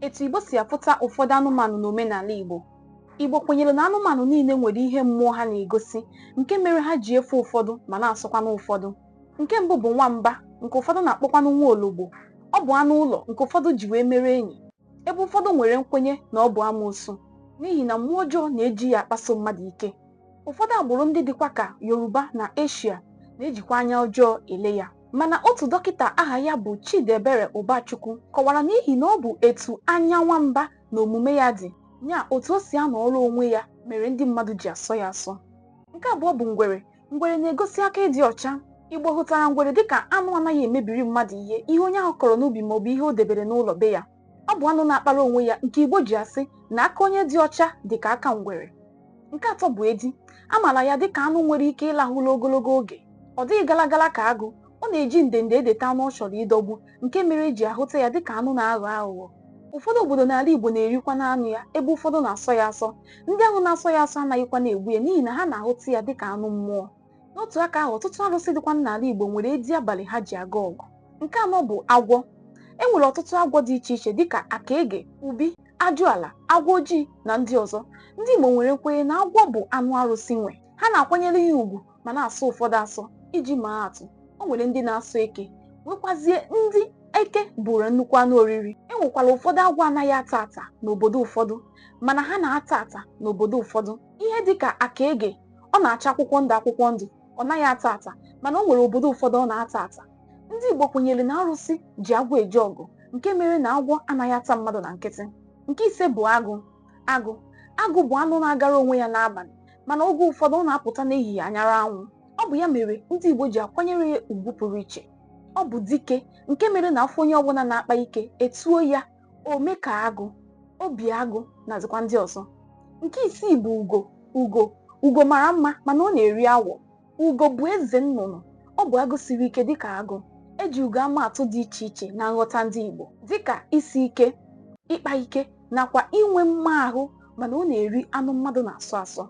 Etu Igbo si ahụta ụfọdụ anụmanụ n'omenala Igbo. Igbo kwenyere na anụmanụ niile nwere ihe mmụọ ha na-egosi nke mere ha ji efe ụfọdụ ma na-asọkwanụ ụfọdụ. Nke mbụ bụ nwamba nke ụfọdụ na-akpọkwanụ nwa ologbo. Ọ bụ anụ ụlọ nke ụfọdụ ji wee mere enyi ebe ụfọdụ nwere nkwenye na ọ bụ amoosu n'ihi na mmụọ ọjọọ na-eji ya akpaso mmadụ ike. Ụfọdụ agbụrụ ndị dịkwa ka Yoruba na Eshia na-ejikwa anya ọjọọ ele ya. mana otu dọkịta aha ya bụ Chidiebere Ụbachukwu kọwara n'ihi na ọ bụ etu anya nwamba na omume ya dị ya otu o si anọrọ onwe ya mere ndị mmadụ ji asọ ya asọ nke abụọ bụ ngwere ngwere na-egosi aka ịdị ọcha Igbo hụtara ngwere dịka anụ anaghị emebiri mmadụ ihe ihe onye ahụ kọrọ n'ubi maọbụ ihe o debere n'ụlọ be ya ọ bụ anụ na-akpara onwe ya nke Igbo ji asị na aka onye dị ọcha dị ka aka ngwere nke atọ bụ edi a maara ya dị ka anụ nwere ike ịlahụ ụla ogologo oge ọ dịghị galagala ka agụ ọ na-eji ndende edeta anụ ọ chọrọ ịdọgbu nke mere e ji ahụta ya dị ka anụ na-aghọ aghụghọ ụfọdụ obodo n'ala Igbo na-erikwanụ anụ ya ebe ụfọdụ na-asọ ya asọ ndị ahụ na-asọ ya asọ anaghịkwanụ egbu ya n'ihi na ha na-ahụta ya dị ka anụ mmụọ n'otu aka ahụ ọtụtụ arụsị dịkwa n'ala Igbo nwere edi abalị ha ji aga ọgụ nke anọ bụ agwọ e nwere ọtụtụ agwọ dị iche iche dịka akaege ubi ajụala agwọ ojii na ndị ọzọ ndị Igbo nwere nkwenye na agwọ bụ anụ arụsị nwe ha na-akwanyere ya ugwu ma na-asọ ụfọdụ asọ iji maa atụ o nwere ndị na-asọ eke nwekwazie ndị eke bụụrụ nnukwu anụ oriri e nwekwara ụfọdụ agwọ anaghị ata ata n'obodo ụfọdụ mana ha na-ata ata n'obodo ụfọdụ ihe dịka akaege ọ na-acha akwụkwọ ndụ akwụkwọ ndụ ọ naghị ata ata mana o nwere obodo ụfọdụ ọ na-ata ata ndị Igbo kwenyere na arụsị ji agwọ eje ọgụ nke mere na agwọ anaghị ata mmadụ na nkịtị nke ise bụ agụ agụ agụ bụ anụ na-agara onwe ya n'abalị mana oge ụfọdụ ọ na-apụta n'ehihie anyara anwụ ọ bụ ya mere ndị Igbo ji akwanyere ya ugwu pụrụ iche ọ bụ dike nke mere na a fụ onye ọbụla na-akpa ike e tuo ya ome ka agụ obi agụ nazikwa ndị ọzọ nke isii bụ ugo ugo ugo mara mma mana ọ na-eri awọ ugo bụ eze nnụnụ ọ bụ agụ siri ike dịka agụ e ji ugo ama atụ dị iche iche na nghọta ndị Igbo dịka isi ike ịkpa ike nakwa inwe mma ahụ mana ọ na-eri anụ mmadụ na-asọ asọ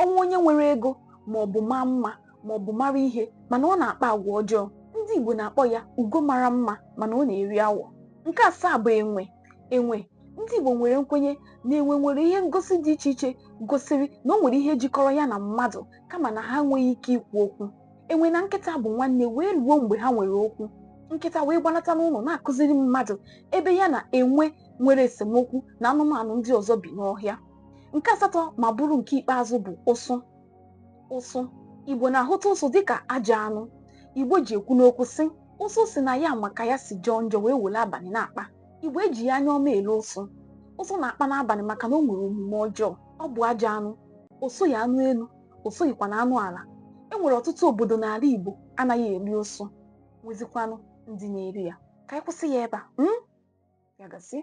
o nwee onye nwere ego ma ọ bụ maa mma ma ọ bụ mara ihe mana ọ na-akpa agwa ọjọọ ndị Igbo na-akpọ ya ugo mara mma mana ọ na-eri awọ nke asaa bụ enwe enwe ndị Igbo nwere nkwenye na enwe nwere ihe ngosi dị iche iche gosiri na o nwere ihe jikọrọ ya na mmadụ kama na ha enweghị ike ikwu okwu enwe na nkịta bụ nwanne wee ruo mgbe ha nwere okwu nkịta wee gbanata n'ụlọ na-akụziri mmadụ ebe ya na enwe nwere esemokwu na anụmanụ ndị ọzọ bi n'ọhịa nke asatọ ma bụrụ nke ikpeazụ bụ ụsụ ụsụ igbo na-ahụta ụsụ dịka ajọ anụ igbo ji ekwu n'okwu sị ụsụ sị na ya ma ka ya si jọọ njọ wee were abalị na-akpa igbo ejighị anya ọma ele ụsụ ụsụ na-akpa n'abalị maka na o nwere omume ọjọọ ọ bụ ajọ anụ o soghị anụ elu o soghịkwa na anụ ala e nwere ọtụtụ obodo n'ala igbo anaghị eri ụsụ nwezikwanụ ndị na-eri ya ka anyị kwụsị ya ebe a ya gazie